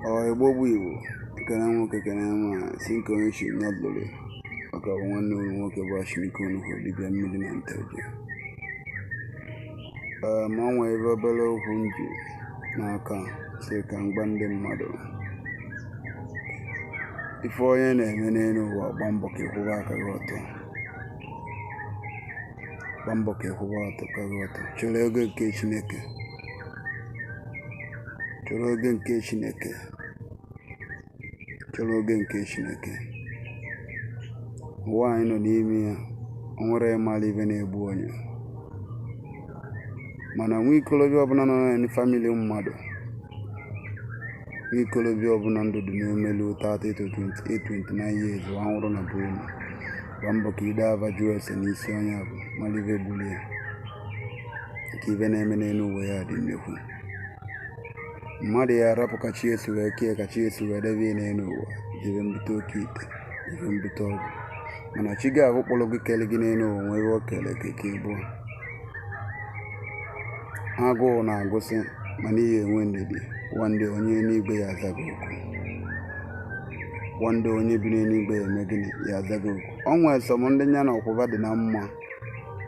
ọ igbo bụ igbo kene nwoke kene nwaanyị sị nke onye chi ya lụrụ maka bụ nwanne unu nwoke bụ ashirika onugwu dibịa mmiri na nteje ee ma o nwere ebe obere okwu m ji n'aka sị ka m gwa ndị mmadụ ife onye na-eme n'elu ụwa gba mbọ ka ị kwụba aka gị ọtọ gba mbọ ka ị kwụba aka gị ọtọ chọrọ oge nke chineke chọrọ oge nke chineke chọrọ oge nke chineke ụwa anyị nọ n'ime ya o nwere ịmara ive na-egbu onye mana nwa ikolobịa ọbụla nọ na famili mmadụ nwa ikolobịa ọbụla ndụ dị n'omelu 30 to 28 29 years wa nwụrụ na be unu gba mbọ ka i jee ava jụọ ese n'isi onye avụ mara ive gburu ya nke ive na-eme n'elu ụwa ya dị nnekwu mmadụ ya arapụ ka chi ya si wee kee ka chi ya si wee debe n'elu ụwa jebe mbute oke ite jebe mbute ọgwụ mana chi gị ahụ kpọrọ gị kele gị n'elu ụwa nwere o kele gị ka ị bụ agụụ na-agụsị mana ị ya enwe ndidi one day onye n'igwe ya aza gị oku one day onye bi n'eluigwe ya eme gịnị ya aza gị oku o nwere some ndị ya na ọkwụba dị na mma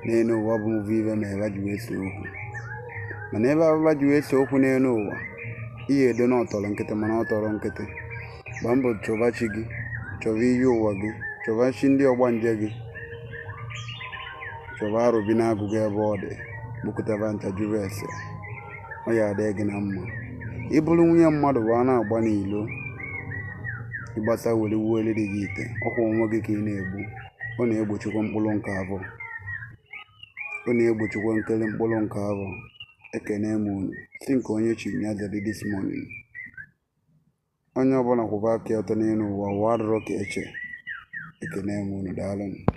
n'elu ụwa bụ mvụ ibe ma ebe ji wee so okwu mana ebe abụba ji wee so okwu n'elu ụwa ihe edo na ọ tọrọ nkịtị mana ọ tọrọ nkịtị gbaa mbọ chọba chi gị chọba iyi ụwa gị chọba chi ndị ọgbanje gị chọba arọbinagụ gị ebe ọ dị kpokọta va ncha jụrụ ese ọ ya adị gị na mma ị bụrụ nwunye mmadụ bịa na-agba n'ilo ị gbasịa were wuoro di gị ite ọ kwa onwe gị ka ị na-egbu ọ na-egbochikwa mkpụrụ nke abụọ ọ na-egbochikwa nkele mkpụrụ nke abụọ ekene m unu sị nke onye chiri ya zere this morning onye ọbụla kwụba aka ya ọtọ n'elu ụwa ụwa adịrọ ka e che ekene m unu daalụ